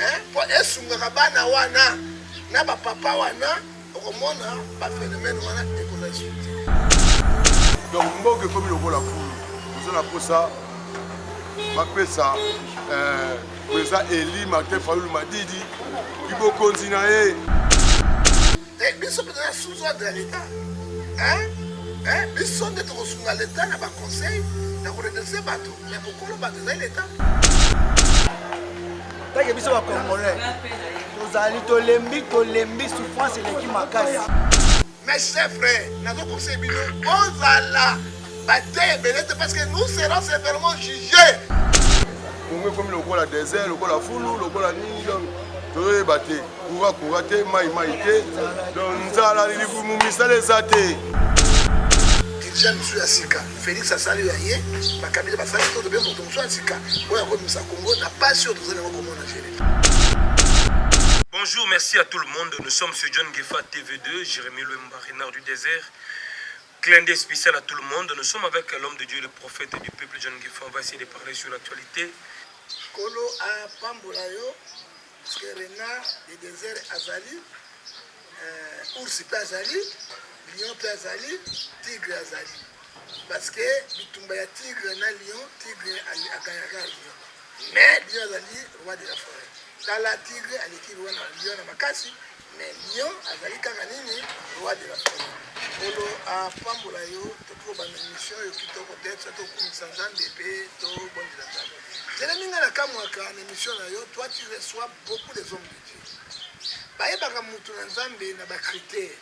eh, mpo esungaka bana wana na bapapa wana okomona baphenomene wana ekola esuti donc mboka ekomi lokola fulu oza na mposa bapesa eh, eza eli martin fayulu madidi libokonzi na ye te biso mpe toza sous ordre ya leta biso nde tokosunga leta na baconseil na koredrese bato me mokolo bato ezali leta take biso bacongolais tozali tolembi tolembi souffrance eleki makasi mais c'est vrai nazokokisa bino bozala bateya ebele te parce que nous serons sévèrement jugés kongo ekomi lokola désert lokola fulu lokola nini donc tozoyeba te kura kura te mai mai te don nzala lilibumu misala eza te dirija mosusu ya sika félix asali ya ye bakabila basali to tobe moto mosusu ya sika oyo akomisa kongo na pasi oyo tozali yango komona jele Bonjour, merci à tout le monde. Nous sommes sur John Gefa TV2, Jérémy Lemba, Renard du désert. Clin d'œil spécial à tout le monde. Nous sommes avec l'homme de Dieu, le prophète du peuple John Gefa. On va essayer de parler sur l'actualité. Kolo a pambola yo Puisque renard de desert azali, euh, ours pe azali, lion pe azali, tigre azali. Parce que bitumba ya tigre na lion, tigre agayaka lion. Mais lion azali roi de la forêt. Tala tigre aleki roi na lion na makasi. Mais lion azali kaka nini roi de la forêt nkolo apambola yo tokiko banda mission oyo kitoko te biso tokumisa nzambe mpe tobondela nzambe zelemi ngai nakamwaka na mission na yo toi tu reçois beaucoup des hommes de dieu bayebaka motu na nzambe na bacritère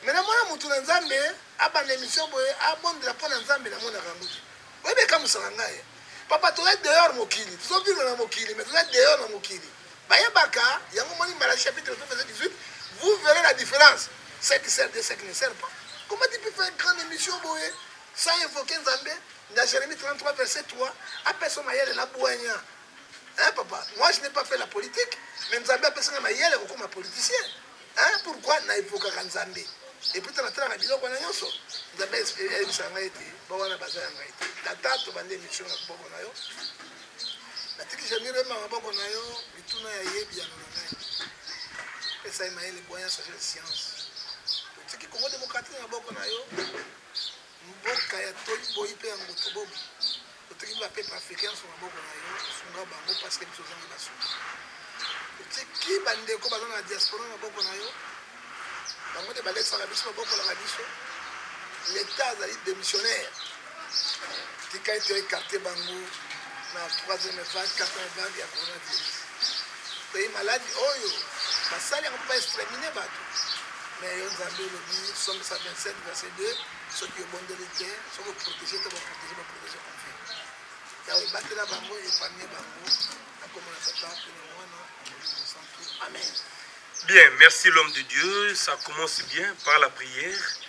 me namona motu na nzambe abanda émission boye abondela mpo na nzambe namonaka yango te oyebi ekamusaka ngai papa toza dehors mokili tozovivre na mokili me toza dehors na mokili Bayebaka yango moni Malachie chapitre 3 verset 18, vous verrez la différence, ce qui sert Dieu, ce qui ne sert pas. Comment tu peux faire une grande émission boye sans invoquer Nzambe dans Jérémie 33 verset 3 apesa mayele na bwanya. Hein papa, moi je n'ai pas fait la politique, mais Nzambe apesa na mayele kokoma politicien. Hein pourquoi na invokaka Nzambe? Et puis tala tala na biloko na nyonso. Nzambe ayebisa ngai ete bawana baza ya ngai te. Tata tobandi émission na koboko na yo. Natiki Jamiro yemba maboko na yo mituna ya yebi ya nona ngai. Pesa ye mayele boya sagesse science. Totiki Congo démocratique na maboko na yo mboka ya toyi boyi mpe ya moto bobo. Totiki ba peuple africain sur maboko na yo sunga bango parce que biso ozangi basunga. Totiki bandeko baza na diaspora na maboko na yo bango nde balekisaka biso babokolaka biso leta azali démissionnaire tika ete ekarte bango na troisième vague quatrième vague ya coronavirus toyebi maladi oyo basali yango mpo baextramine bato me yo nzambe olobi somisa 27 verset 2 soki obondeli te soki oprotege te baprotege baprotege konfi yawe ebatela bango epamie bango nakomona tata mpe na mwana na mosantu amen Bien, merci l'homme de Dieu. Ça commence bien par la prière.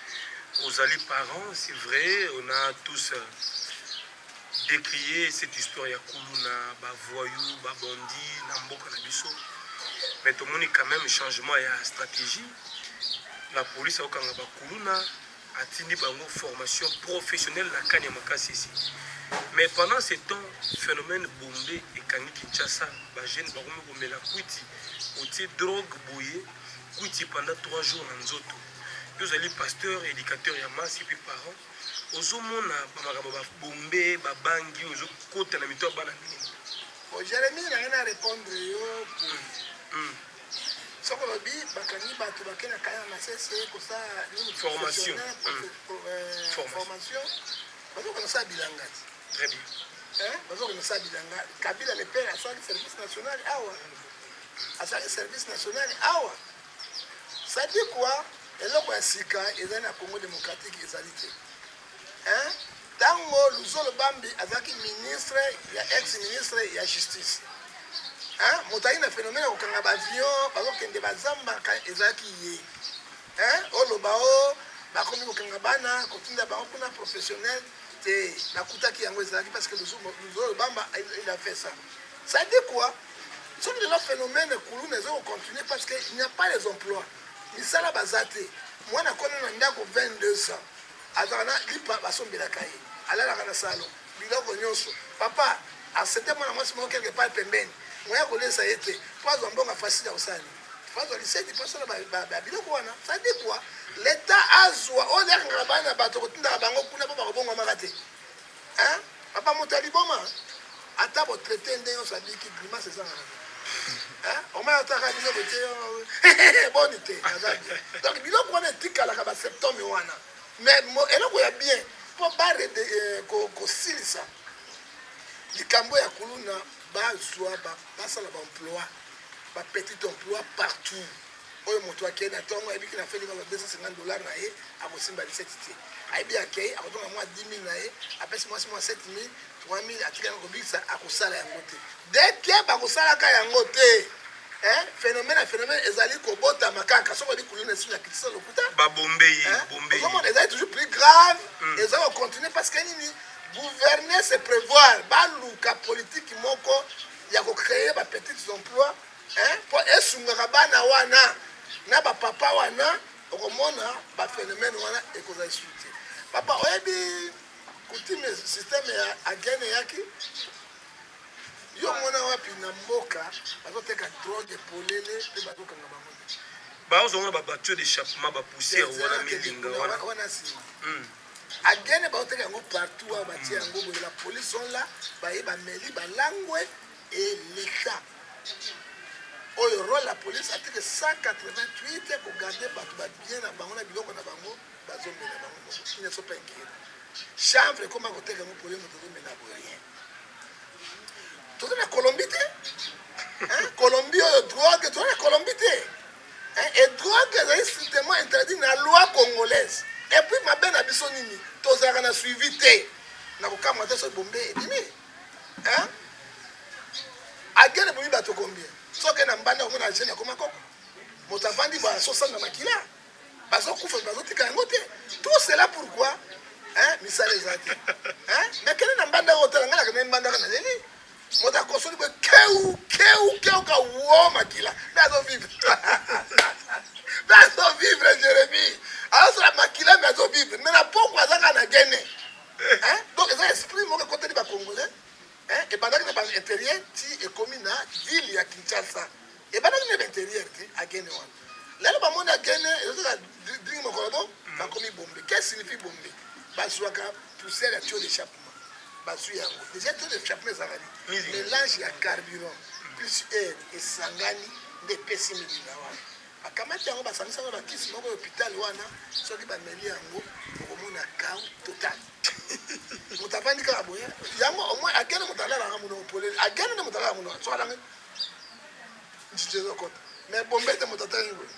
Aux alliés parents, c'est vrai, on a tous euh, décrié cette histoire ya kuluna, ba voyous, ba bandits, na mboka na biso. Mais tout le monde quand même changement ya stratégie. La police a okanga ba kuluna, atindi bango formation professionnelle na kani ya makasisi mais pendant ce temps phénomène bombe ekangi kinshasa bajeune bakomi komela kwiti otie drogue boye kwiti pendant 3 jours na nzoto yo ozali pasteur éducateur ya masi mpe parent ozomona bamakambo babombe babangi ozokota na mito ya bana mingi jeremie na ngai na répondre yo boye Soki olobi bakangi bato bake na kaya na masese kosala nini formation formation bazoka nasala bilanga très bien bazoka nasala bilanga kabila le père asalaki service national awa asalaki service national awa sadi quoi eloko ya sika ezali na congo démocratique ezali te Hein? Tango Luzolo Bambi azalaki ministre ya ex ministre ya justice. Hein? Motali na phénomène ya kokanga ba avion, bazokende bazamba ezalaki ye. Hein? Oloba o oh, bakomi kokanga bana, kotinda bango kuna professionnel te. Bakutaki yango ezalaki parce que Luzolo Bamba il a fait ça. Ça dit quoi? soki lelo phénomène kuluna ezo kocontinue parce que il n'y a pas les emplois misala baza te mwana akona na ndako 22 ans Azalaka na lipa basombelaka ye, alalaka na salon, biloko nionso. Papa accepte mwana mwasi moko quelque part pembeni, moyen ya kolesa ye te po azwa mbongo ya Fasthi akosala nini? Faut azwa liseki po asala ba biloko wana ça dit quoi? L'etat azwa oyo nde akangaka bana ya batu akotindaka bango kuna po bakobongwamaka te? Hein papa moto ya liboma ata bo traiter nde yonso abiki grimace eza na hein omaya ataka bino bote boni te aza bien donc biloko wana etikalaka ba septome wana mais eloko ya bien mpo bare eh, kosilisa likambo ya kuluna bazwa basala baemploi bapetit emploi partout oyo moto akei na ntongo ayebi kina feli mwa 250 dollar na ye akosimba liseti te ayebi akei akotonga mwa 10 000 na ye apesi mwasi mwa 7 000 3 000 atikaki kobikisa akosala yango te deke bakosalaka yango te eh, phénomène ya phénomène ezali kobotama kaka soki oyebi kuluna esu na kitisa lokuta babombei bombei ozomona ezali toujours plus grave mm. ezali kocontinue parce que nini gouverner se prévoir baluka politiki moko ya kocréer bapetite emploi eh, mpo esungaka bana wana na bapapa wana okomona baphénomène wana ekozala lisusu te papa oyebi kutime systeme ya agene eyaki yo mona wapi na mboka bazoteka drogue polele mpe bazokanga bango te bazongana babatio d'échappement bapoussière wana milinga wana wana nsima hmm. agene baoteka yango partout awa batie yango boye la police on la baye bameli balangwe Et l'etat oyo role ya police article 188 ko garder batu ba bien na bango na biloko na bango bazo mela bango moko il ne faut pas inquiéter chanvre ekoma koteka yango pole moto ezo mela bo rien toza na colombie te Hein? colombie oyo drogue toza na colombie te Hein? et drogue ezali strictement interdit na loi congolaise et puis mabe na biso nini tozalaka na suivi te na kokamwa te soki bombe ebimi Hein? Agene boyi bato combien? Soki na mbanda omona agene akoma koko. Moto avandi ba sosa na makila. Bazo kufa bazo tika yango te. Tout cela pourquoi? Hein? Misala eza te. Hein? Na kene na mbanda oyo tala ngana kene mbanda kana leli. Moto akosoli boye keu keu keu ka wo makila. Mais azo vivre. Mais azo vivre Jérémie. Azo la makila mais azo vivre. Mais na poko azaka na gene. Hein? Donc eza esprit moko ekoteli ba congolais. Hein? Ebandaki na ba interieur ti ekomi na ville ya Kinshasa. Ebandaki na ba interieur ti agene wana. Lelo ba mona agene ezoka ding mokolo bo ba komi bombe. Qu'est-ce que signifie bombe? Bazuaka poussière ya tuyau d'échappement. Bazui yango. Déjà tuyau d'échappement ezalaki mélange ya carburant plus air esangani nde epesi milina wana. Bakamati yango basangisi yango na kisi moko ya hopitale wana, soki bameli yango okomona kau total. moto avandi kaka boye yango omoi agene moto alalaka mono opoleli agene nde moto alala mono so alangi ntiti ezokota mais bombe te moto atangi boye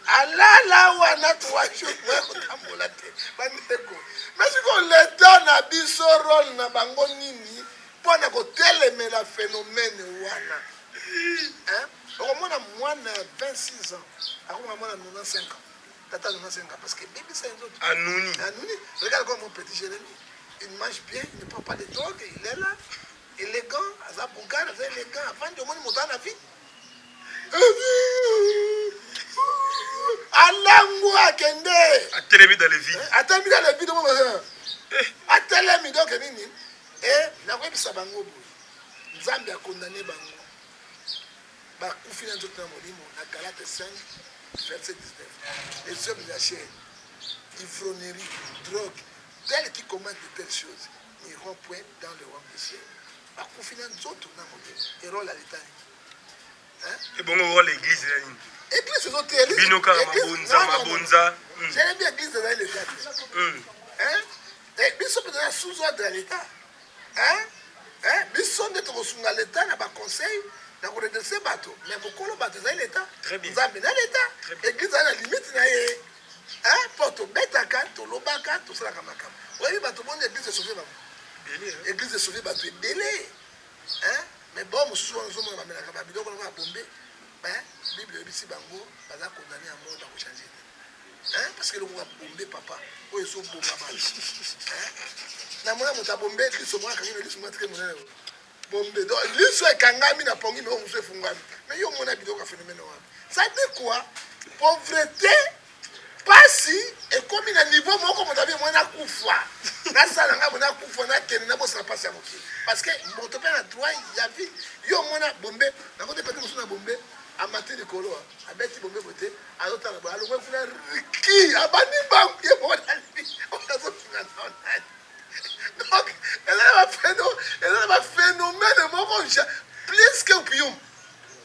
alala wana tuwaki okoya kotambola te bandeko mais sikoyo leta na biso role na bango nini mpo na kotelemela phénomène wana okomona mwana ya 26 ans akomona mwana 95 ans tata 95 ans parce que bebisa ye nzoto anuni anuni regarde comme mon petit jérémie il mange bien il ne prend pas de drogue il est là élégant aza bougar aza élégant avandi omoni moto ana vie alangu akende atelemi dans le vide atelemi dans le vide mo atelemi donc nini e nakoyebisa bango boye nzambe akondane bango bakufi na nzoto na molimo na galate 5 verset 19 les hommes de la chair ivrognerie drogue tel qui commande de telles choses n'iront point dans le royaume du ciel bakufi na nzoto na molimo erole ya leta nini ebongo role eglise ya nini eglise ezoteyeli bino kaka mabonza mabonza jelebi eglise ezali leta te biso mpenza na sous ordre ya leta Hein hein biso nde toko sunga l'etat na ba conseil na ko redresser bato mais mokolo bato ezali l'etat nzambe na l'etat eglise ezali na limite na ye hein po tobetaka tolobaka tosalaka makambo oyebi bato boni eglise esauve bango eglise esauve bato ebele hein mais bon mosusu wana ozomona bamelaka babiloko lokola bombe Mais bible ebisi bango baza condamne à mort bako changer te. Hein parce que lokola bombe papa oyo ezo bomba ba. Hein na mona mota bombe Kristo mwa kangi Yesu mwa très monene. Bombe donc liso ekangami na pongi mais omuso efungwami. Mais yo mona biloko ya phénomène wana. Ça dit quoi? Pauvreté Pasi ekomi na niveau moko moto abi moi na kufa na sala nga mona kufa na kende na bosa pasi ya mokili parce que moto pe na droit ya vie yo mona bombe na kote pete mosu na bombe amati likolo abeti bombe bote azo tala boye alongwe kuna riki abandi bangu ye moko na vie azo finga na onani donc eza na ba phénomène moko plus que opium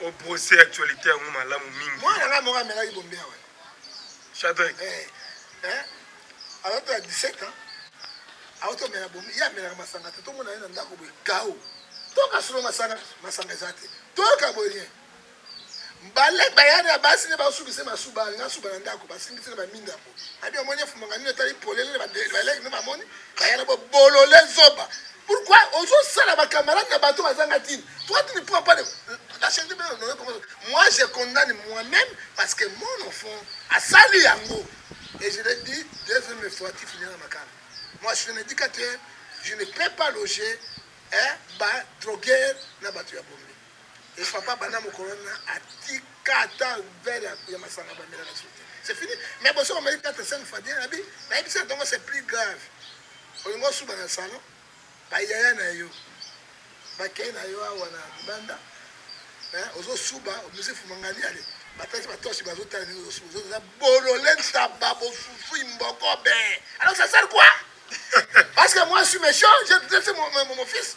O brosser actualite yango malamu mingi. Mwana ngai moko amelaki bombe ya wana. Chadrek. Eh. Eh. Alors tu as 17 ans. Auto mela bombe, ya mela masanga te. Tomona na ndako boye kao. Toka solo masanga, masanga ezate. Toka boye. Mbale bayana basi ne basubise masuba, ngasuba na ndako, basimbisi na baminda. Abi omoni efumanga nini etali polele na baleki no bamoni bayana bo bolole zoba. Pourquoi ozosala bakamarade na bato bazanga tini toi tu ne prends pas la charité bien honoré comme moi je condamne moi-même parce que mon enfant asali yango et je l'ai dit deuxième fois tu finiras makala moi je suis un éducateur je ne peux pas loger hein, ba droguer na bato ya bombe Et papa bana mokolo wana atika ata verre ya, ya masanga bamela na sote c'est fini mais boso bameli 4 5 fois bien abi nayebisi na ntongo c'est plus grave olingi osuba na salon bayaya na yo bakei na yo awa na libanda ozosuba omisi fumangani ale batasi batoshi bazotala ndenge ozosuba oza bolole ntaba bofufu imboko be alors ça sert quoi parce que moi je suis méchant je mon, mon, mon fils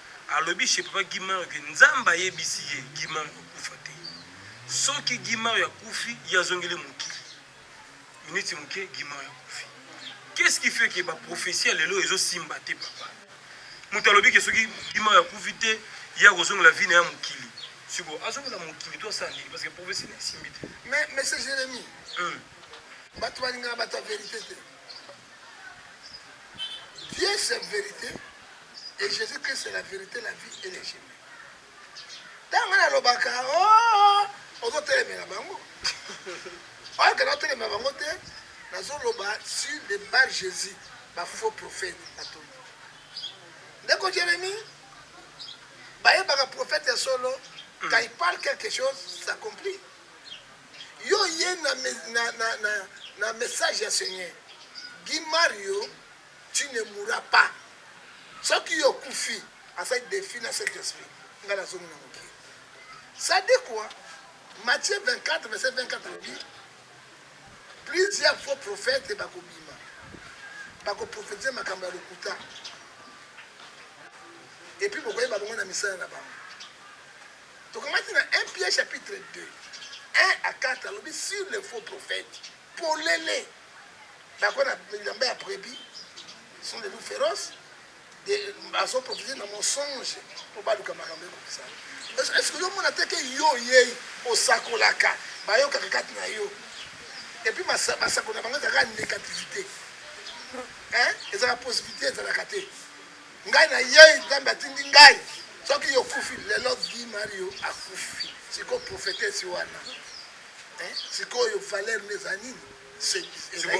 Alobi chez papa Guy Mario que Nzambe ayebisi ye Guy Mario akokufa te. Soki Guy Mario akufi, ye azongeli mokili. Minute moke Guy Mario akufi. Qu'est-ce qui fait que ba prophetie ya lelo ezo simba te papa? Moto alobi que soki Guy Mario akufi te, ye akozongela vie na ya mokili. Siko azongela mokili to asala nini parce que prophetie na esimbi te. Mais monsieur Jérémie, Hum. bato balingaka bato ya verite te. Dieu c'est verite. Et Jésus Christ c'est la vérité, la vie et le chemin. Ntango nga nalobaka oh, ozotelemela bango oyoka naotelemela bango te nazoloba sur le bar Jésus bafaux prophète batoli ndeko Jérémie bayebaka prophète ya solo hmm. quand il parle quelque chose s'accomplit yo ye na, na, na, na, na message ya Seigneur Guy Mario Tu ne mourras pas. Soki yo okufi, asali defi na Saint-Esprit. Nga na zongi na mokili. Ça dit quoi? Matthieu 24, verset 24 alobi plusieurs faux prophètes bakobima bakoprofetize makambo ya lokuta epuis bokoyeba bango na misala na bango tokamati na 1 pierre chapitre 2 1 à 4 alobi sur les faux prophètes polele bakona bilamba ya prebi sont des loups féroces bazo profite na mensonge mpo baluka makambo ekokisa estce yo omona te ke yo oyei osakolaka bayokaka kati na yo epuis basako na bango ezalaka négativité ezalaka positivité ezalaka te ngai nayei nzambe atindi ngai soki yokufi lelo di mario akufi siko profetesi wana sikoyo valeur nde eza nini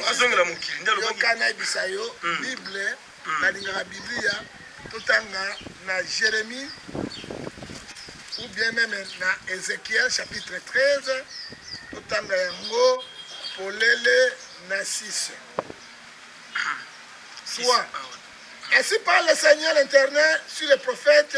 azongela mokili nde yoka nayebisa yo hmm. bible hmm. nalingaka biblia totanga na jérémie ou bien meme na ézéchiel chapitre 13 totanga yango polele na 6 soit ah ainsi parle le seigneur internet sur le prophète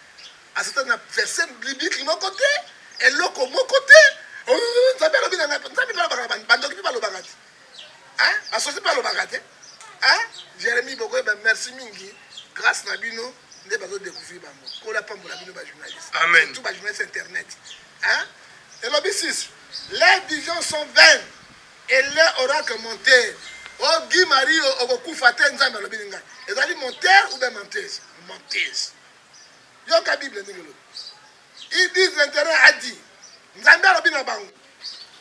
Aza ata na verse biblique moko te, eloko moko te. Oh, Nzambe alobi na ngai, Nzambe mpe alobaka na bandoki mpe balobaka te, basosi mpe balobaka te. Jeremie bokoyeba, merci mingi, grâce na bino nde bazo découvrir bango. Kola apambola bino ba journalistes, amen, tout ba journalistes internet. Hein? Elobi sisi, les visions sont vaines et leur oracle monter ogi mario okokufa te nzambe alobi ninga ezali monteur ou bien menteuse menteuse yoka bible ndenge elobi ils disent l'intérêt a dit nzambe alobi na bango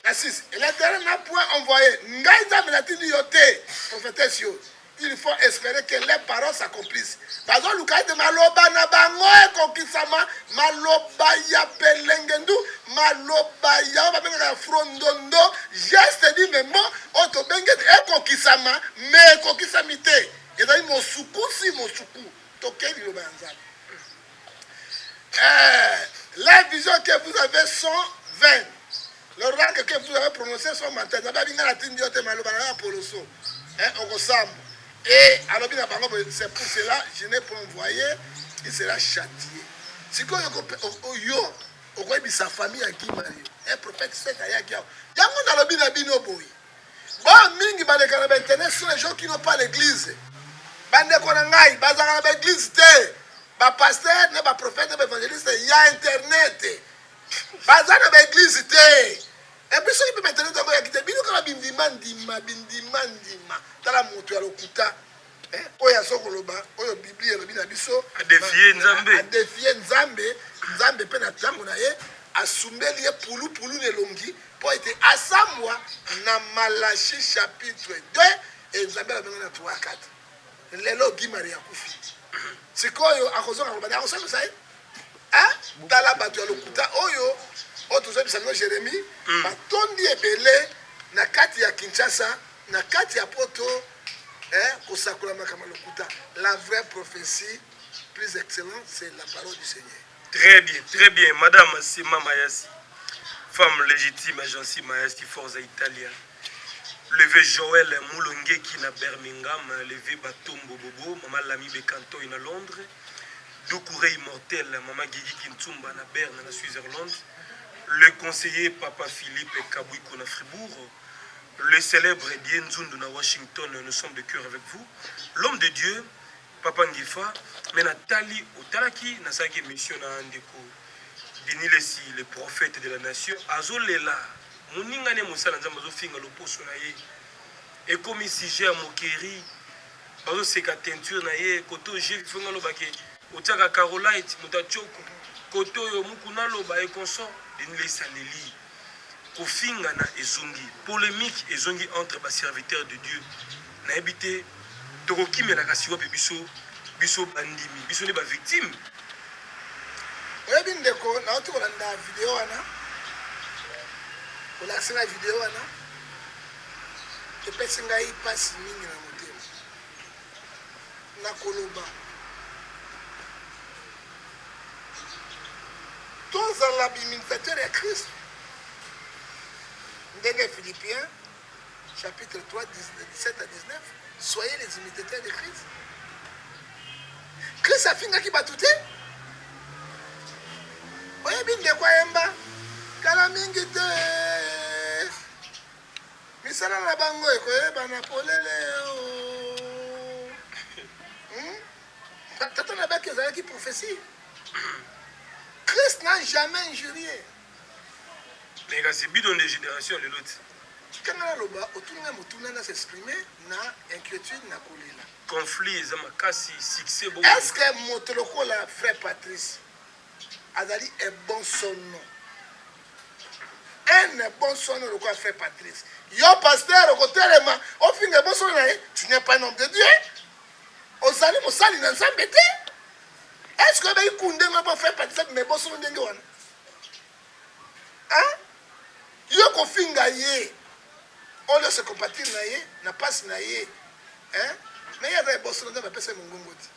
na 6 l'intérêt n'a point envoyé ngai nzambe natindi yo te prophétesse yo il faut espérer que les paroles s'accomplissent bazoluka ete maloba na bango ekokisama maloba ya pelengendu maloba yango babengaka ya frondondo geste di memo oyo tobengi ete ekokisama me ekokisami te ezali mosukusi mosuku Toke liloba ya Nzambe. Eh, la vision que vous avez sont vaines. Le rang que vous avez prononcé sont menteurs. Nzambe abinga na tindi yo te maloba na yo ya poloso. Eh, okosamba. Et alobi na bango c'est pour cela je n'ai pas envoyé, il sera châtié. Sikoyo yo okoyebisa famille ya Kimani. Eh, prophète Seth ayaki awa. Yango nalobi na bino boye. Ba mingi baleka na ba internet sur les gens qui n'ont pas l'église. Bandeko na ngai bazalaka na ba église te. Ba pasteur na ba prophète na ba evangeliste ya internet. Baza na ba église te. Et puis soki pe ba internet yango ya kite bino kaka bindima ndima bindima ndima. Tala moto ya lokuta. Eh, oyo azo koloba oyo biblia elobi na biso adefie nzambe adefie nzambe nzambe mpe na ntango na ye asumbeli ye pulupulu na elongi mpo ete asambwa na malachi chapitre 2 ezambe alobenge na 3 4 lelo gi maria akufi sikoyo akozonga koloba nde akosambisa ye eh, tala bato ya lokuta oyo oyo tozobisa bino jérémie hmm. batondi ebele na kati ya kinshasa na kati ya poto Eh, kosakola makambo ya lokuta. La vraie prophétie plus excellente, c'est la parole du Seigneur. Très bien, très bien. Madame Sima Mayasi, femme légitime, agence Mayasi, Forza Italia. Levé Joël Moulongeki na Birmingham, levé Batombo Bobo, Maman Lami Bekantoy na Londres, Doucouré Immortel, Maman Gigi Kintsumba na Berne na Switzerland, le conseiller Papa Philippe Kabouiko na Fribourg, Le celèbre Die Nzundu na Washington, nous sommes de cœur avec vous. L'homme de Dieu, Papa Ngefa, mais na tali otalaki na saki mission na ndeko Denis Lessi, le prophète de la nation, azolela moninga ne mosala nzambe azofinga loposo na ye ekomi sujet ya moquerie bazoseka teinture na ye kote oyo jevi fonga alobake otiaka carolite moto atshoko kote oyo mokuna aloba ekonsor denis lesaleli Kofingana ezongi, polemique ezongi entre ba serviteurs de Dieu. Nayebi te tokokimela kasi wapi biso, biso bandimi, biso nde ba victimes. Oyebi ndeko, nauti kolanda video wana, olakisi ngai video wana, epesi ngai mpasi mingi na na koloba tozala biminisatere ya kristo ndenge philippien chapitre 3 17 à 19 soyez les imitateurs de christ christ afingaki bato te oyebi ndeko ayemba kala mingi te Misala na bango ekoyebana polele oh. hmm? Tata na baki ezalaki prophetie. Christ n'a jamais injurié. Mais kasi bidon de génération lelo ti. Kanga na loba otunga mutuna na s'exprimer na inquiétude na kolela. Conflit eza makasi succès bon. Est-ce que moto lokola frère Patrice azali ebonsono un ebonsono lokola frère patrice yo pasteur okotelema ofinga ebonsono na ye tu n'es pas un homme de dieu ozali mosali na nzambe te est ce que oyebi kunde ngo mpo frère patrice abima ebonsono ndenge wana yo kofinga ye oyo se compatir na ye na mpasi na ye me ye aza ebonsono nzambe apesa ye mongongo te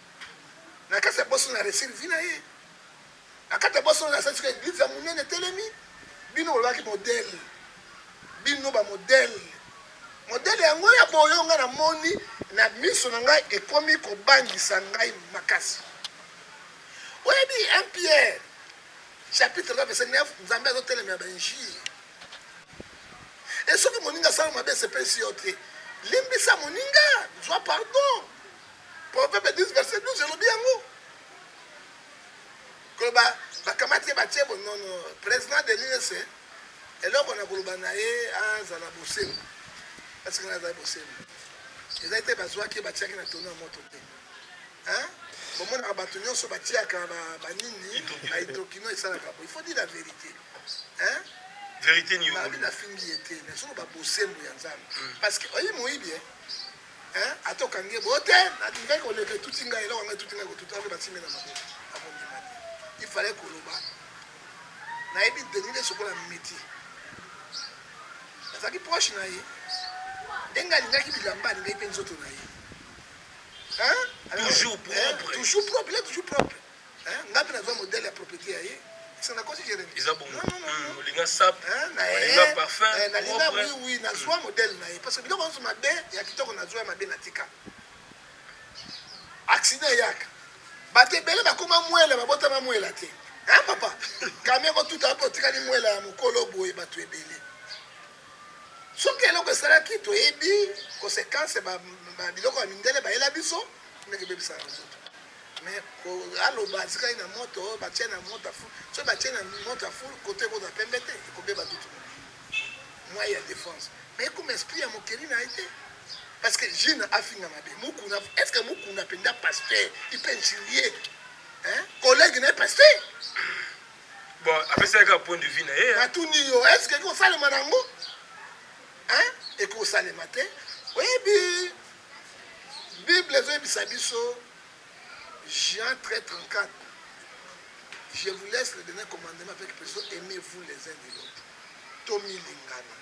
na kati ya boso na resir vi na ye na kati ya boso na sasika eglize ya monene etelemi bino bolobaki modele bino bamodele modele yango ya boyo ngai namoni na miso na ngai ekomi kobangisa ngai makasi oyebi un pierre chapitre 3 verset 9 nzambe azotelemela bainjire e soki moninga asala mabe esepelisi yo te limbisa moninga zwa pardon Proverbe 10 verset 12 elobi yango koloba bakamati ye batie bonono president de l'UNC eloko na koloba na ye azala bosembo parce que nazali bosembo ezali te bazwaki ye batiaki na tono ya moto te bomonaka bato nyonso batiaka banini baitokino esalaka bo il faut dire la vérité verité niobi nafingi ye te nazoloba bosembo ya nzambe hmm. parce que oyebi moyibi eh ata okangi ye boye te nalingaki koleka etuti ngai eloko ngai etuti ngai kotuta nde batimi na maboko nakondima te ifale koloba nayebi deni nde sokola miti nazalaki proche na ye ndenge alingaki bilamba alingaki mpe nzoto na ye toujours propre toujours propre Hein? Ngapi na zwa modèle ya propriété ya ye. C'est na kosi Jérémie. Eza bongo. Non non non. Hmm, olinga sap. Hein? Na ye. Olinga parfum. Eh, na linga oui oui na zwa hmm. modèle na ye parce que biloko nso mabe ya kitoko na zwa ya mabe na tika. Accident yaka. Bato ebele bakoma mwela babotama mwela te. Hein papa? Kamia ko tuta hapo tikali mwela ya mukolo boye bato ebele. Soki eloko esalaki toyebi conséquence ba biloko ya mindele bayela biso ndenge ebebisaka nzoto Mais ko aloba atikali na moto oyo batie na moto ya fulu. Soki batie na moto ya fulu, koto ekozala pembe te, ekobeba tutu mwa ya defense. Mais ekoma esprit ya mokeli na ye te. Parce que Gina afinga mabe. Mukuna, est-ce que Mukuna penda pasteur, il peut injurier hein? Collègue na ye pasteur. Bon, apesaki kaka point de vue na ye. Natuni yo, est-ce que ekosalema nango? Hein? Ekosalema te. Oyebi Bible ezoyebisa biso Jean 13 34 je vous laisse le dernier commandement avec peso aimez vous les uns des autres tomilingana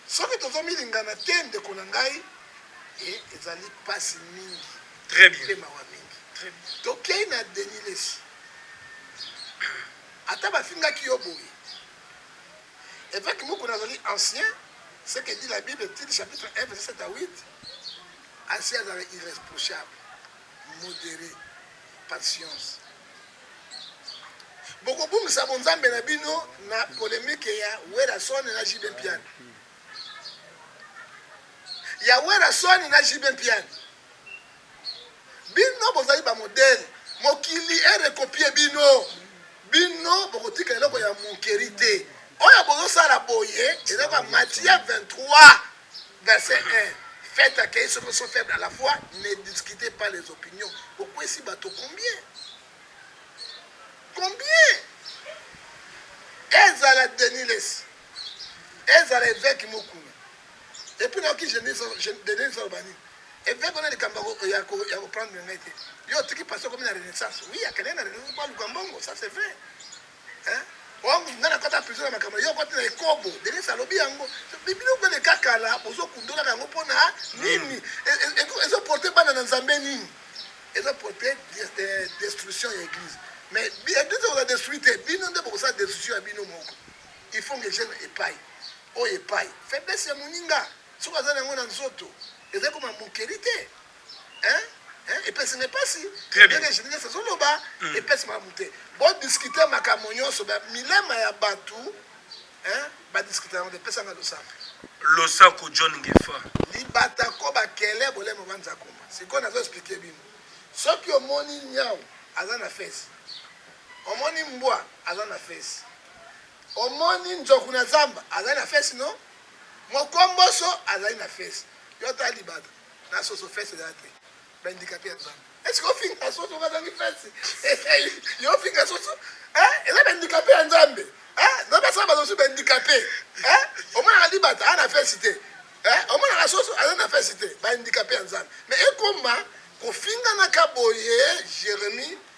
soki tozomilingana te ndeko na ngai e ezali mpasi mingi très bien mpe mawa mingi très bien tokei na denilesi ata bafingaki yo boye Evêque Mukuna azali ancien, ce que dit la Bible, Tite chapitre 1 verset 7 à 8. Asi azala irreprochable, modéré, patience. Bokobungisa bonzambe na bino na polemique ya Werrason na JB Mpiana. Ya Werrason na JB Mpiana. Bino bozali ba modèle mokili e recopie bino bino bokotika eloko ya monkeri te oyo bozosala boye eloko ya matthieu 23 verset 1 faites accueillir ceux qui sont faibles à la foi ne discutez pas les opinions bokwesi bato combien combien ezala denis lesi ezala eveke mokuna epuis nayoki denis aloba nini Eveque wana likambo ya ko ya ko prendre ngai te. Yo otiki pasteur comme la renaissance. Oui, akende na renaissance kwa luka mbongo, ça c'est vrai. Hein? Wangu oh, ngana kota prison na makambo yo kota na ekobo. Denis alobi yango. Bibino kwa leka kala bozo kundola yango pona nini? Mm. Ezo porter bana na Nzambe nini? Ezo porter eh, destruction ya église. Mais église oza destruite, bino nde bokosa destruction ya bino moko. Il faut que je epai. Oyo epai. Faiblesse ya moninga. Soki aza na yango na nzoto, ezali koma mokeli te hein? Hein? Epesi nga epasi Très bien. ndenge Geneviève azoloba epesi malamu te. Bo discuter makambo nyonso ba milema ya bato hein? Ba discuter yango te. Pesa nga losambo. Losako John Ngefa. libata ko bakele bolemo banza koma sikoyo nazo explike bino soki omoni nyau aza na fesi omoni mbwa aza na fesi omoni nzoku na zamba aza na fesi no Mokomboso azali na fesse. Yo ta libata na soso fesse eza te. Ba indicateur ya nzambe. Est-ce que finga soso bazangi fesse? Yo finga soso? Hein? Eza ba indicateur ya nzambe. Hein? Nzambe asala bato mosusu ba indicateur. Hein? Omonaka libata ana fesse te. Hein? Omonaka soso aza na fesse te. Ba indicateur ya nzambe. Mais ekoma kofinganaka boye Jeremie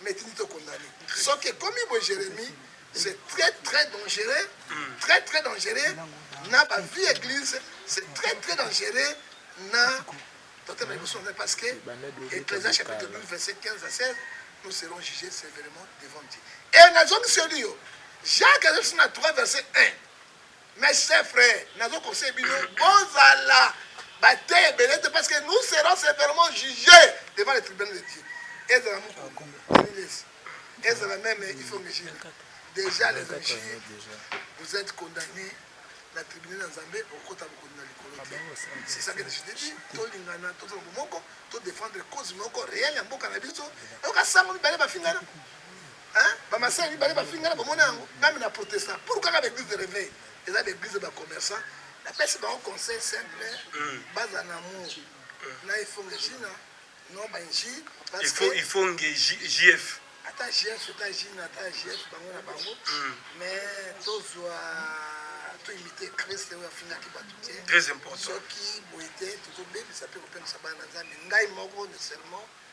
mais tindi to condamne soki ekomi boye jérémie c'est très très dangereux hmm. très très dangereux na ba vie église c'est très très dangereux na tote na liboso na parce que ecclésia chapitre 12 verset 15 à 16 nous serons jugés sévèrement devant dieu et nazongiseli yo jacques azalisi na 3 verset 1 Mes chers frères, nazo conseille bino bozala bate ebele te parce que nous serons sévèrement jugés devant le tribunal de Dieu. Ezala mukulu, Elias, ezala même Ifongejina. Déjà les anges, vous êtes condamnés na tribunal ya Nzambe okota bokondi na likolo te. C'est ça que je te dis, tolingana, tozala bomoko, to défendre cause moko réelle ya mboka na biso. Oyoka sango mibale bafingana. Hein? Ba masera mibale ba finga na bomona yango nami na protesta pour kaka ba église de réveil eza ba église ba commerçants na pesi ba conseil simple mm. baza na amour mm. na ifonge jina non ba nji parce il faut que... ifonge JF ata JF ata jina ata JF bango na bango mm. mais tozwa to imiter Christ oyo afingaki bato te très important soki boye te tozobebisa mpe kopemisa bana na Nzambe ngai moko ne seulement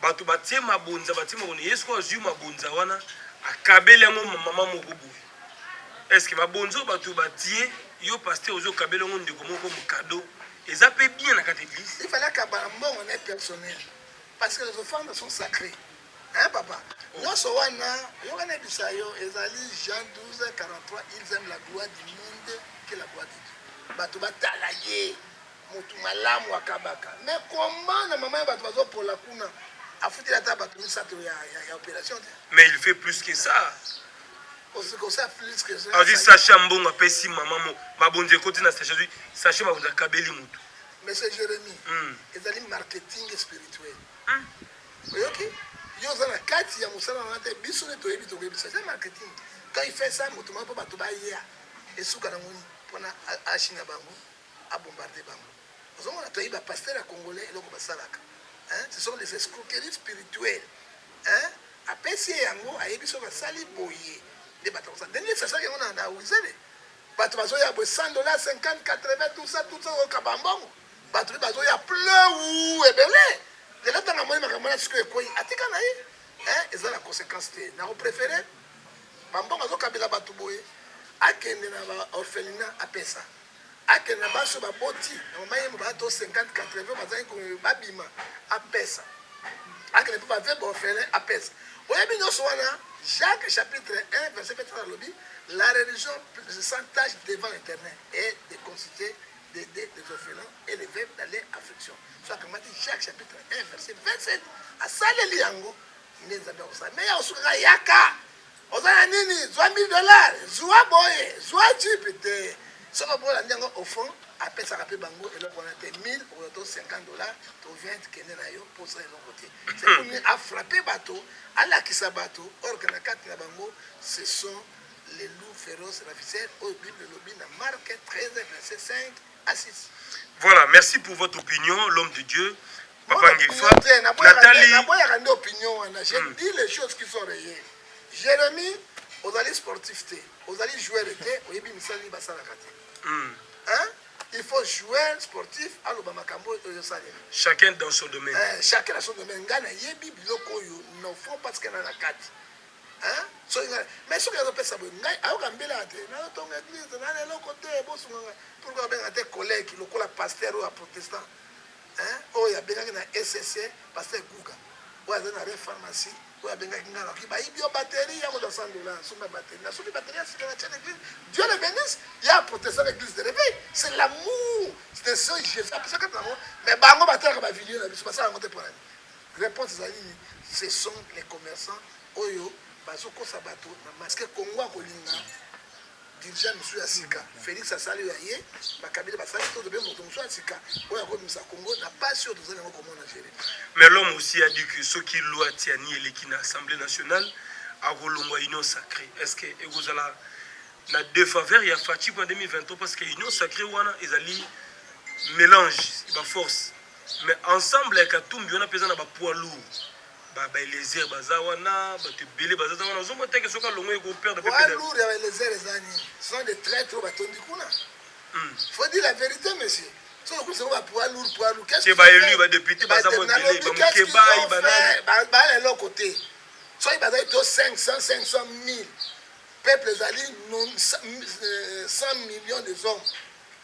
Bato batie mabonza, batie mabonza. Ye sikoyo azwi mabonza wana, akabeli yango mama moko boye. Eske mabonza oyo bato batie, yo pasteur ozo kabeli yango ndeko moko comme cadeau, eza pe bien na kati eglise? Il fallait akabala mbongo na ye personnel. Parce que les offrandes sont sacrées. Hein papa? Nyonso wana, yo wana ebisa yo, ezali Jean 12, 43, ils aiment la gloire du monde que la gloire de Dieu. Bato batala ye. Mutu malamu akabaka mais comment na maman ya batu bazo pola kuna afuteli ata batu misato ya, ya, ya operation te mais il fait plus que ça azwi sache ya mbongo apesi mama mo mabonzi ekoti na sache azwi sache mabonzi akabeli motu monsieur jérémi hmm. ezali marketing spirituel hmm. oyoki yo oza na kati ya mosala wana te biso nde toyebi tokoyebisa eza marketing quand il fait ça moto moko mpo bato baya esuka na ngoni mpona achine ya bango a bombarde bango ozomona toyebi ba pasteur ya congolais eloko basalaka hein ce sont des escroqueries spirituelles hein apesi ye yango ayebi so basali boye nde bato bakosa ndenge nini sasaki yango na wizele bato bazoya boye 100 dollar 50 80 tout ça tout ça oyoka bambongo bato mpe bazoya pleu ebele lelo ntango amoni makambo na sikoyo ekwei atika na ye eza na conséquence te nakoprefere bambongo azokabela bato boye akende na baorphelina apesa Akende na basi oyo baboti na mama yembo ba to 50 80 bazangi ko babima apesa akende mpe ba veuve orphelin apesa oyebi nyonso wana Jacques chapitre 1 verset 23 alobi la religion sans tâche devant l'éternel et de consulter des des des orphelins et les veuves dans leur affliction so akamati Jacques chapitre 1 verset 27 asaleli yango nde nzambe akosala me ya kosukaka yaka Oza na nini zwa 1000 dollars zwa boye zwa jeep te soki opo olandi yango au fond apesaka mpe bango eloko wana te 1000 okola to 50 dollars to 20 kende na yo mpo osala eloko te seponi afrappe bato alakisa bato orke na kati na bango ce sont les loups féroces raviseurs oyo bible elobi na marke 13 verset 5 Assisi. Voilà, merci pour votre opinion, l'homme de Dieu. Papa Ngefa, Nathalie. Naboyaka nde opinion wana. Je hmm. dis les choses qui sont réelles. Jérémy, ozali sportif te, ozali joueur te, oyebi misala nini basalaka te. Hmm. Hein? il faut jouer sportif aloba makambo oyo osalela chacun dans son domaine eh, chacun dans son domaine ngai nayebi biloko oyo nofo parce que na na kati hein soki ngai mais soki azo pesa boye ngai ayoka mbela te nazo tonga église na eloko te bosunga ngai pourquoi abenga te collègue lokola pasteur oyo ya protestant hein oyo abengaki na SSC pasteur Guga oyo aza na re pharmacie oyo abengaki ngai nakoki bayibi yo batterie ya kozwa 100 dollars nsomi ya batterie nasuki batterie ya sika na tiene église dieu le bénisse ya protestant na église de réveil c'est l'amour de ce jésus apesaka na bango mais bango batalaka bavideo na biso basala yango te mpo na nini Reponse ezali nini? Ce sont les commerçants oyo bazo kosa batu na masse. Est-ce que Congo akolinga dirigeant mosusu ya sika? Felix asali oyo ya ye, ba Kabila basali to tobe moto mosusu ya sika oyo akomisa Congo na pasi oyo tozali yango komona jere. Mais l'homme aussi a dit que soki loi tiani eleki na Assemblée nationale akolongwa union sacrée. Est-ce que ekozala na defaveur ya Fatshi en 2023 parce que union sacrée wana ezali mélange ba force Mais ensemble ya katumbi wana peza na ba poids lourds ba ba Eliezer baza wana batu ebele baza wana ozo mota ke soka longo eko perdre pe poids lourds ya ba Eliezer eza nini ce sont des traîtres ba tondi kuna hmm. faut dire la vérité monsieur soki okumisa ngo ba poids lourds poids lourds qu'est-ce que ba élus ba députés baza mo ebele ba mukebayi ba nani ba ba eloko te soki bazali to 500 500 000 peuple ezali 100 euh, millions des hommes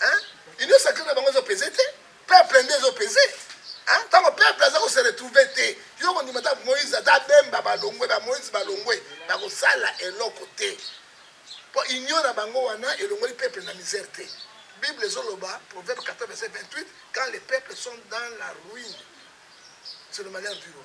hein union sacrée na bango ezo pese te peuple nde ezo pese hein tango peuple aza ko se retrouver te yo ko ndima ta Moïse ata bemba balongwe ba Moïse balongwe ba ko sala eloko te po union na bango wana elongoli peuple na misère te Bible ezo loba proverbe 14 verset 28 quand les peuples sont dans la ruine c'est le malheur du roi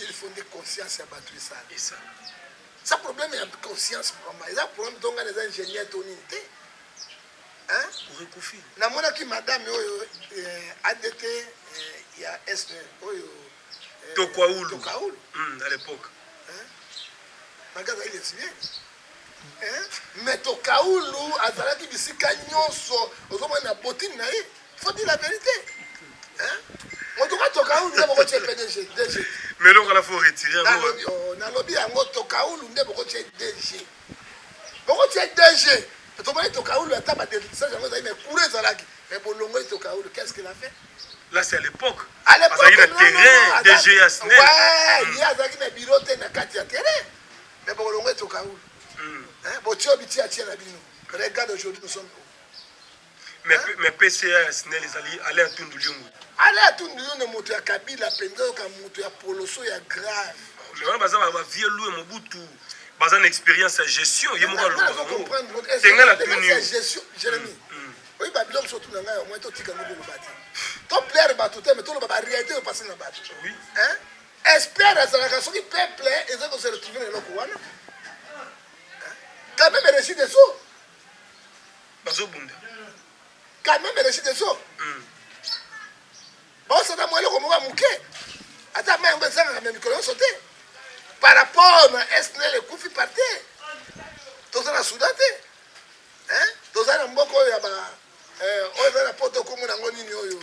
il faut nde conscience ya bato esala sa problème ya conscience vraiment eza problème to ngai naza ingénieur to nini te orekufi namonaki madame oyo eh, adt eh, ya est oyo eh, tokaulu tokaulu hmm, à l'époque maga azali lesbienne Mais Tokaulu azalaki bisika nyonso ozomona na botine na ye faut dire la vérité motuka Tokaulu nde bokotye PDG DG mais eloko wana faut retire yango nalobi yango Tokaulu nde bokotye DG bokotye DG tomoni Tokaulu ata badelisage yango ezali mais courant ezalaki mais bolongoli Tokaulu qu'est ce qu'il a fait là c'est à l'époque azalaki na terrain DG ya SNEL ye azalaki na biro te na kati ya terrain Mais bokolongo etoka oyo. Mm. Hein, botio bitia tia na bino. Regarde aujourd'hui nous sommes mais, hein? mais PCA Snell ezali Alain Tundu Liongo. Alain Tundu Liongo moto ya Kabila penza yoka moto ya poloso ya grave. Mais wana baza ba vieux Louis Mobutu baza na expérience ya gestion ye moko aloba tenga na tuni gestion Jérémy. Mm, mm. Oyi ba biloko surtout na ngai au moins to tika ngo boloba te. To plaire bato te mais to loba ba réalité yo passer na bato. Oui. Hein? Esper azalaka soki peuple eza ko se retrouver na eloko wana quand même reçu des eaux bazobunda quand même reçu des eaux mm. baosana mwa eloko moko ya moke ata mai yango ezangaka na mikolo nyonso te par rapport na snl ekufi par te toza na soudan te toza na mboka oyo ya ba eh, oyo eza na poto komona yango nini oyo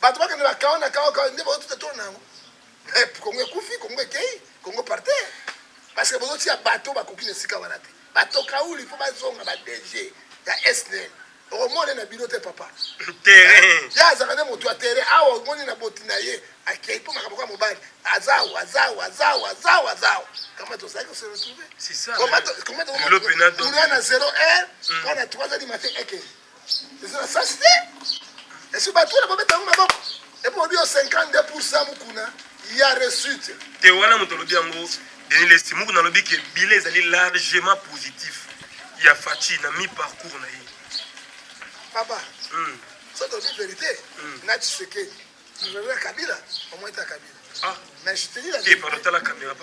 bato bakende bakawa na kawa kawa nde baotuta tolo na yango eh, kongo ekufi kongo ekei kongo parte parceke bozotia bato bakoki na esika wana te bato kauli mpo bazonga ba dg ya esnel okomona na bino te papa eh, ye azalaka nde moto ya tere awa omoni na boti na ye akei mpo makambo kwa mobali azao azao azao azao azao kama tozali kose retrouve koma tokomona na zero heure mpo na 3 heures du matin ekei eza na sasi te esi bato wana babeta yango maboko epo obi yo 52 pourcent mokuna ya resute te wana moto alobi yango denis lesi mokuna alobi ke bile ezali largement positif ya faci na mi parcours na ye papa mm. soki olobi verité mm. na tshisekedi gouvernement ya kabila omweta kabila ah. mais je te dis la eh, vérité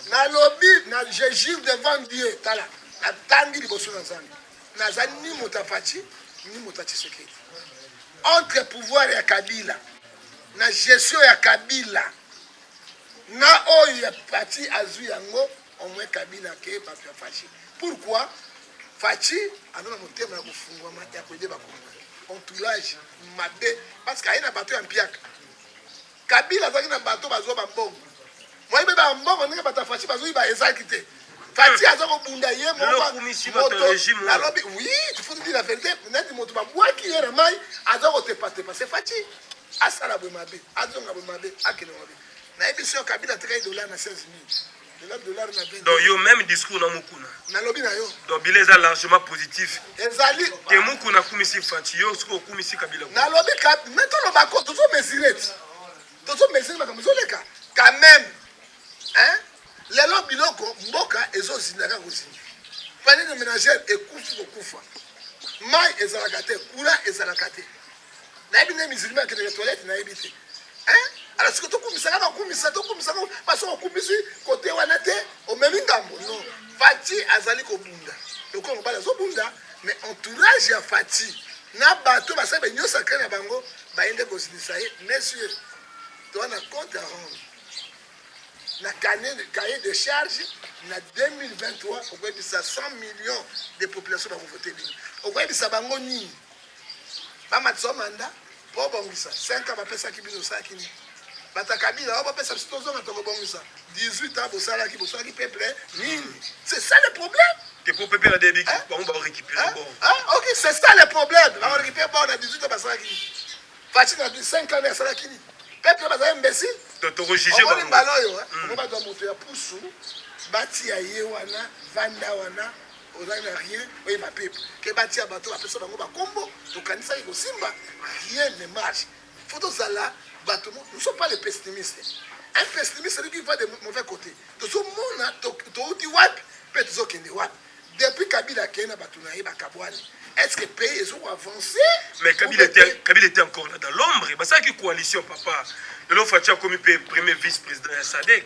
nalobi na je jure devant dieu tala natangi liboso na nzambe naza ni moto ya faci ni moto ya tshisekedi entre pouvoir ya kabila na gestion ya kabila na oyo ya faci azwi yango omwe kabila ke bato ya faci pourquoi faci aza na motema ya kofungwama ya koyeba kongo entourage mabe parce que aye na bato ya mpiaka Kabila azalaki na bato bazwa bambongo moyi mpe bambongo ndenge bato ya fashi bazwi ba ezalaki te fati aza kobunda ye mokoalobi wi tifutidi la verite neti moto babwaki ye na mai aza kotepatepa se fati asala bwe mabe azonga bwe mabe akende mabe nayebisi yo kabila atikaki dola na 16 000 donc yo même discours na mukuna nalobi na yo donc bila eza largement positif ezali te mukuna akumisi faci yo soki okumisi kabila nalobi me toloba ko tozo mesure ti tozo mesure makambo ezoleka quand même hein lelo biloko mboka ezozinda kaka kozinda panier de ménagère ekufi kokufa mai ezalaka te courant ezalaka te nayebi nde musulman akendeke toilette nayebi te ala siko tokumisaka bakumisa tokumisaka baso okumisi kote wana te omemi ngambo no fati azali kobunda lokola mobali azobunda mais entourage ya fati na bato basali baunion sacré na bango baye nde kosilisa ye monsieur toa na compte à rendre na cahier de charge na 2023 okoyebisa 100 millions de population bakovote bino okoyebisa bango nini ba matisa manda po bongisa 5 ans bapesaki bino osalaki nini bata kabila o bapesa biso tozonga tokobongisa 18 ans bosalaki bosalaki peuple nini c'est ça le problème Et pour peuple la débit hein? bango ba récupérer hein? bon hein? OK c'est ça le problème ba récupérer bon na 18 ans basalaki nini Fatshi na 5 ans asalaki nini peuple baza imbécile donc tokojuge bango baloyo hein? Hmm. bango baza moto ya pusu batia ye wana vanda wana ozali na rien oyeba pepe ke batia bato bapesa bango bakombo tokanisaki kosimba rien ne marche fo tozala bato nous sommes pas les pessimistes un pessimiste celui qui va de mauvais côté tozomona touti wapi mpe tozokende wapi depuis kabila akei na bato na ye bakabwani est ce que pays ezoko avance mais kabila était, kabila était encore là dans l'ombre basalaki coalition papa lelo faci akomi mpe premier vice président ya sadek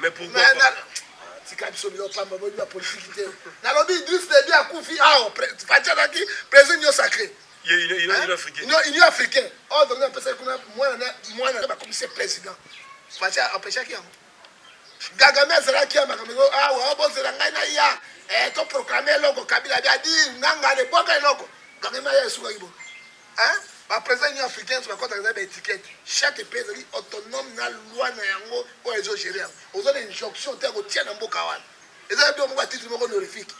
Mais pourquoi Mais, na, tika biso bino pamba boyebi ba politique te nalobi idris debi akufi awa fati azalaki président union sacré union africain ordre nde apesaki kuna mwana nde bakomisi président fati apeshaki yango gagame azalaki ya makambo eko awa ah, bozela ngai na ya eh, toproclame eloko kabila bi adi nanga lebwaka eloko gagame aya esukaki bo Hein? Ba président union africaine ba kota ba étiquette. Chaque pays est autonome na loi na yango oyo ezo gérer. Aux autres injonction te ko tia na mboka wana. Eza do mboka titre moko honorifique.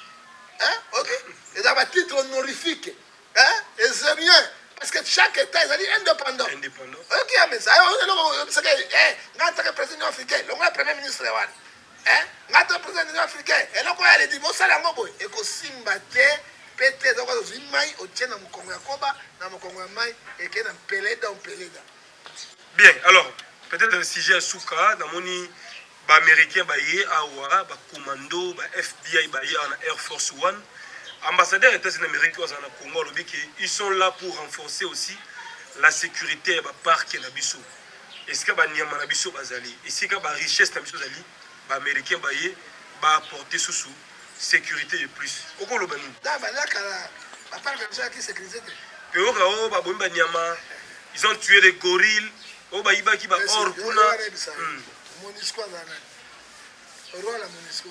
Hein? OK? Eza ba titre honorifique. Hein? Et c'est bien parce que chaque état ezali indépendant. Indépendant. OK, mais ça on est là, c'est que eh, n'a ta président africain, le premier ministre wana. Eh, nga to president union africaine eloko ya ledi bosala yango boye ekosimba te mpe te ezoko ozwi mai otie na mokongo ya koba na mokongo ya mai eke na mpeleda mpeleda bien alors peut-être sujet ya suka namoni baaméricain baye awa bacommando ba fbi baye awa na air force one ambassadeur ya états-unis amérique oyo azala na congo alobi ke ils sont là pour renforcer aussi la sécurité ya baparke na biso Esika ba nyama na biso bazali, esika ba richesses na biso ezali, ba americains baye ba apporter susu securite de plus. Okoloba nini? Là ba laka la ba parc na biso ya ki sécurité te. Peoka o ba bomi ba nyama, ils ont tué les gorilles, o ba yibaki ba or kuna. Monusco azalaka. Roi la Monusco.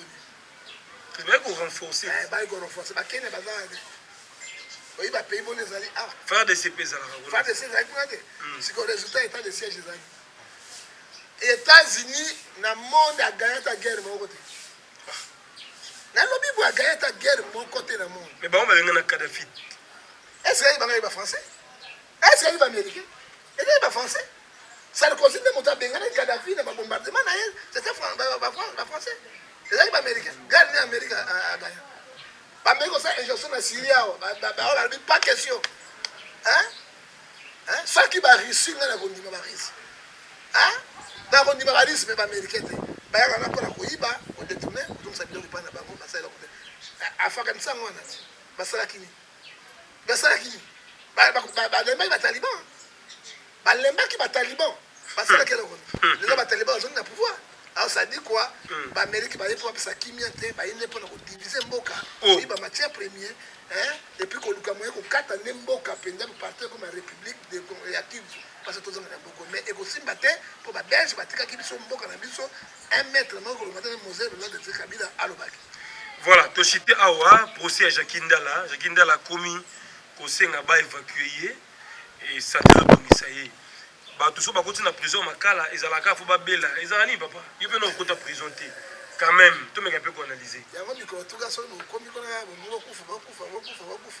États-Unis na monde a gagné ta guerre moko te. Na lobi bo a gagné ta guerre moko te na monde. Mais ba on va venir na Kadhafi. Est-ce que ba ba français? Est-ce que ayebi américain? Ezali ba français. Sarkozy nde moto abenganaki Kadhafi na ba bombardement na ye, c'était ba français. Ezali ba américain. Gare nde Amerika agaya. Bameki kosala injonction na Syrie awa, baoyo balobi pas question. Hein? Hein? Soki ba Russie ngai nakondima ba Russie. Hein? Nakondima ba Russie mpe ba américain te. Bayaka na mpona koyiba, kodetourne, kozongisa biloko epai na bango, basala eloko te. Afghanistan wana basalaki nini? basalaki nini? Balembaki bataliban, balembaki bataliban, basalaki eloko nini? Lelo bataliban bazongi na pouvoir alors ça dit quoi hmm. ba amérique ba yepo sa kimia te ba yende pona ko diviser mboka oh. ba matière premier hein et puis ko luka moyen ko kata ne mboka penza ko partir comme république de Congo ya Kivu parce que tozanga na boko mais et ko simba te po ba belge ba tika ki biso mboka na biso Un mètre moko koloba te Mose Lola de Kabila alobaki. Voilà, to cité awa procès ya Jacques Ndala, Jacques Ndala akomi kosenga ba évacuer ye et ça te bongisa ye. Bato so bakoti na prison makala ezalaka fo babela ezala nini papa yo mpe na okota prison te quand même tomeka mpe koanalyse yango mikolo tuka soki mokomi kona bomokokufa bakufa bakufa bakufa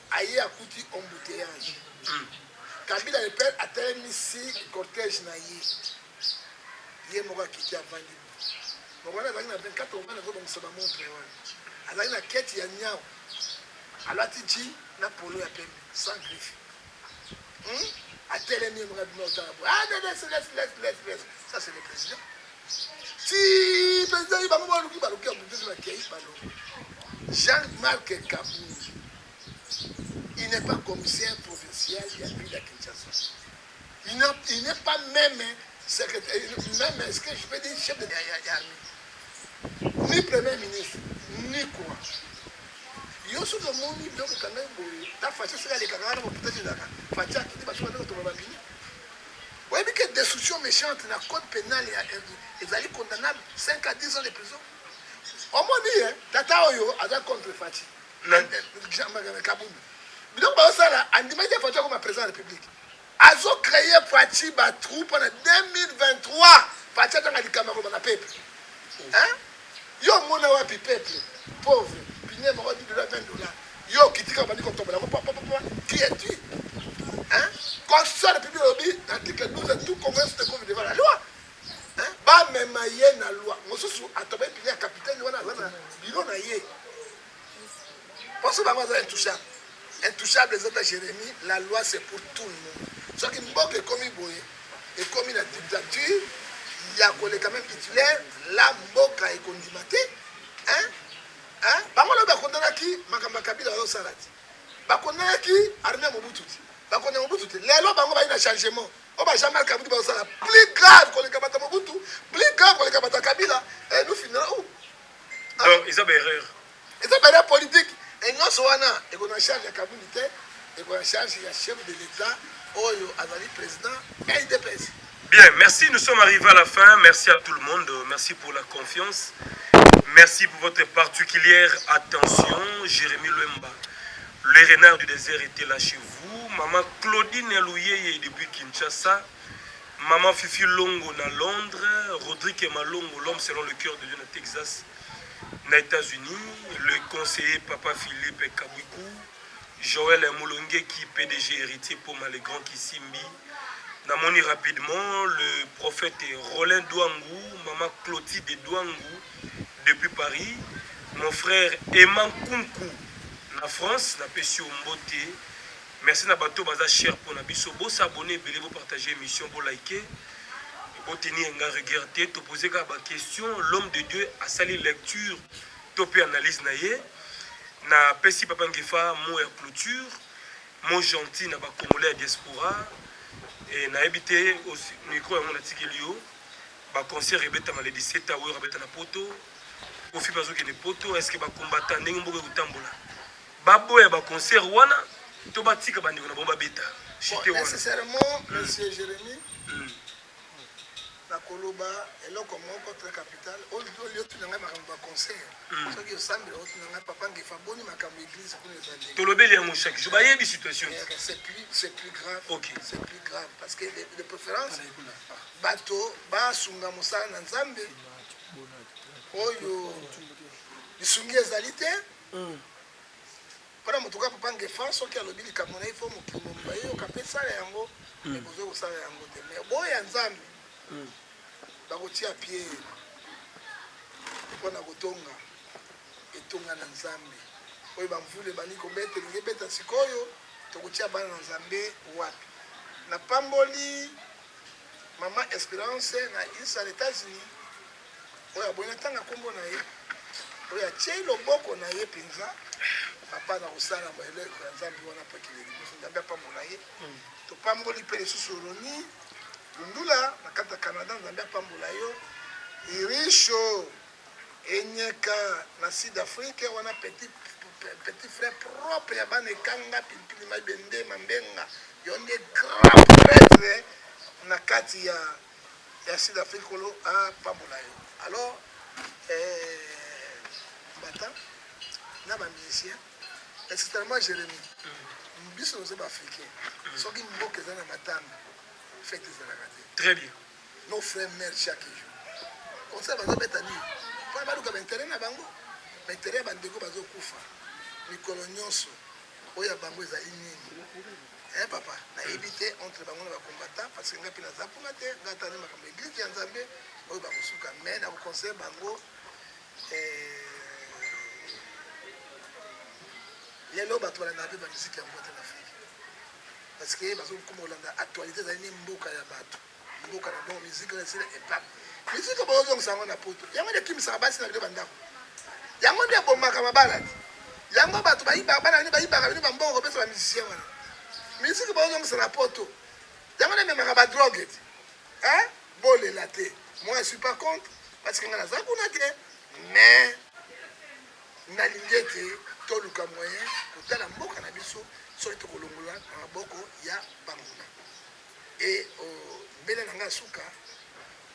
aye akuti embouteillage kabila le père atelemisi cortège na ye ye moko akiti avandi bongo wana azalaki na 24 omana azobongisa bamontre wana azalaki na keti ya nyau alati ji na polo ya pembe sans griffe hmm? atelemi ye moko abima otala boye ah, ça c'est le président ti mpenza ye bango baluki baluki ya mundele bakei balongo jean marc kabund il n'est pas commissaire provincial ya ville ya kinshasa il n'est pas même secrétaire même est ce que je peux dire chef de l'armée ni premier ministre ni quoi yo soki omoni biloko kanga boye ta faci soki alekaka wana moputa ezaka faci akiti basoki bato babini Oyebi que destruction mechante na code penal ya RD ezali condamnable 5 à 10 ans de prison. Omoni ye tata oyo aza contre Fatshi. Jean-Marc Kabund. Biloko bazosala andimaki Fatshi akoma président ya République. Azo créer Fatshi ba troupe na 2023. Fatshi atanga likambo ya koloba na peuple. Hein? Yo omona wapi peuple pauvre pinier moko 10 dollars 20 dollars yo okitika bandi kotombola yango papa papa qui es tu hein constitution de public lobi article 12 tout congolais se trouve devant la loi hein ba mema ye na loi mosusu atobai pinier capitaine wana wana biro na ye Poso bango aza intouchable. Intouchable eza ta Jérémie, la loi c'est pour tout le monde. Soki mboka ekomi boye, ekomi na dictature ya koleka même Hitler, la mboka ekondima te. Hein? Hein? Bango lobi akondanaki makambo ya Kabila oyo sala ti. Bakondanaki armée ya Mobutu ti. Bakondanaki Mobutu te. Lelo bango bayi na changement. Oyo ba Jean-Marc Kabudi bazosala plus grave koleka bata Mobutu, plus grave koleka bata Kabila, et nous finira où? donc eza ba erreur eza ba erreur politique et nyonso wana eko na charge ya kabuni te eko na charge ya chef de l'etat oyo azali président ya idps Bien, merci. Nous sommes arrivés à la fin. Merci à tout le monde. Merci pour la confiance. Merci pour votre particulière attention. Jérémy Lemba, le renard du désert était là chez vous. Maman Claudine Elouyeye depuis Kinshasa. Maman Fifi Longo na Londres, Rodrigue Malongo, l'homme selon le cœur de Dieu na Texas, na États-Unis, le conseiller Papa Philippe Kabuiku, Joël Moulongeki, PDG héritier Poma, le grand Kisimbi. Namoni rapidement le prophète Roland Douangou, maman Clotilde Douangou, depuis Paris, mon frère Emma Kunku, na France, na Pessio Mbote, Merci na bato baza cher pona biso bo s'abonner ebele bo partager emission bo liker bo tenir nga rigueur te to poser kaka ba question l'homme de Dieu asali lecture to pe analyse na ye na pesi papa Ngefa mot ya clôture mot gentil na ba congolais ya diaspora et na yebi te micro yango na tikeli yo ba concert ebetama le 17 août abeta na poto kofi bazokende poto est ce que ba combattant ndenge mboka ekotambola Baboya ba concert wana to batika bandeko na bango babeta chute wana. Nécessairement, hmm. monsieur Jérémy, hmm. nakoloba eloko moko très capital oyo otuna ngai makambo ba concert hmm. soki osambela otuna ngai papa ngefa boni makambo église kuna ezali tolobeli yango chaque jour bayebi situation eh, c'est plus c'est plus grave ok c'est plus grave parce que de préférence bato basunga mosala na nzambe oyo lisungi ezali te Hum. Pona moto ka papa ngefa soki alobi likambo na ye fo mokili mobimba eyoka mpe sala yango me mm. bozoki kosala yango te me boyo ya nzambe mm. bakotia pie mpona kotonga etonga na nzambe oyo bamvula ebandi kobeta elingi ebeta sikoyo tokotia bana na nzambe wapi napamboli mama esperance na isa na etats-unis oyo aboyi natanga nkombo na ye oyo atyei loboko na ye mpenza papa na kosala eleko ya nzambe wana mpo ekende liboso nzambe apambola ye mm. topamboli mpe lisusu roni lundula na kati ya canada nzambe apambola yo irisho enyeka na sud afrique wana petit petit frère propre ya bana ekanga pilipili maibende mambenga yo nde grand pretre na kati ya Merci d'Afrique Kolo a pambola yo. Alors euh, Mbata na ba musiciens extrêmement Jérémie. Mm. Biso nous sommes africains. Mm. Soki mboka eza na matanga fête ezalaka te. Très bien. Nos frères mères chaque jour. Comme ça bazo beta nini? Pona baluka ba intérêt na bango. Ba intérêt ya bandeko bazo kufa. Mikolo nyonso oyo ya bango ezali nini? Eh papa, na yebi te entre bango na ba combattants parce que nga pe naza kuna te, nga tani makambo église ya Nzambe oyo ba kosuka mais na ko conseiller bango eh lelo bato balandaka mpe bamiziki ya mbote na afrike parce que bazokoma kolanda actualité ezali ne mboka ya bato mboka na bango miziki na esila epape miziki oyo baozongisa yango na poto yango nde ekimisaka basi na bino bandako yango nde ebomaka mabala te yango bato bayibaka bana bino bayibaka bino bambongo kopesa bamisicien wana miziki baozongisa na poto yango nde ememaka badroge te eh? bolela te moi je suis pas contre parce que nga naza kuna te mais nalingi ete toluka moyen kotala mboka na biso soki tokolongola na maboko ya banguna E o mbele na nga suka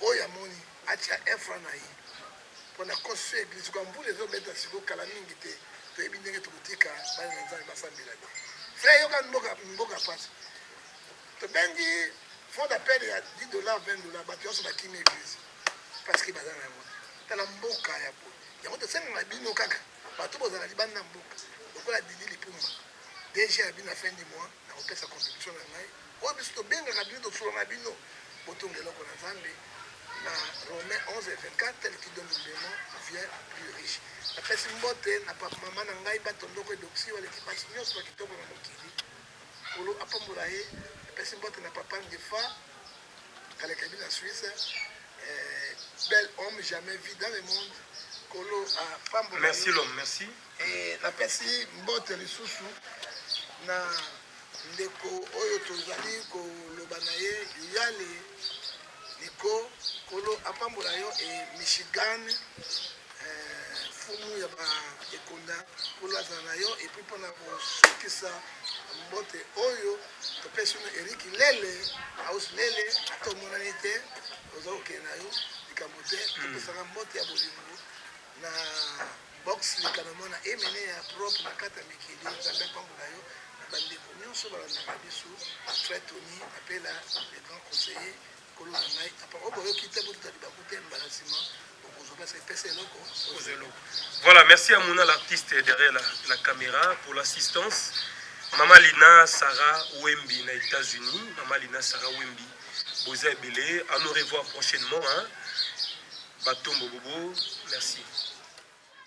oyo amoni atia efra na ye pona construire eglise kwa mbula ezo beta siko kala mingi te toyebi ndenge tokotika bana na nzambe basambela te frère yoka mboka mboka pasi tobengi fond d'appel ya 10 dollars 20 dollars bato nyonso bakimi eglise parce que baza na yango tala mboka ya po yango tosengaka bino kaka bato bozala libanda na mboka lokola didi lipumba dg ya bino na fin du mois Nakopesa contribution na ngai oyo biso tobengaka bino tofula na bino botonga eloko na nzambe na romain 11 et 24 tel qui donne humblement vient plus riche napesi mbote na papa mama na ngai batondoko edoksi baleki basi nyonso na kitoko na mokili kolo apambola ye napesi mbote na papa ngefa kalekabi na suisse eh, bel homme jamais vu dans le monde kolo apambola merci l'homme merci Et napesi mbote lisusu na ndeko oyo tozali koloba na ye yale niko kolo apambola yo e michigan eh, fumu ya baekonda kolo azala na yo epui mpona kosukisa mbote oyo topesi no eriki lele ausi lele ata omonani te oza kokende na yo likambo te topesaka mbote ya bolingo na box leka na mwana emene ya propre na kata mikili nzambe apambola yo na bandeko nyonso balandaka biso frère tony apela le grand conseiller kolo na ngai apa oyo boyoki te botuta libaku te mbala nsima bokozwa mpasi epesa eloko oza eloko voilà merci à mona l'artiste derrière la, la caméra pour l'assistance mama lina sarah wembi na états-unis mama lina sarah wembi boza ebele à nous revoir prochainement hein? batombo bobo merci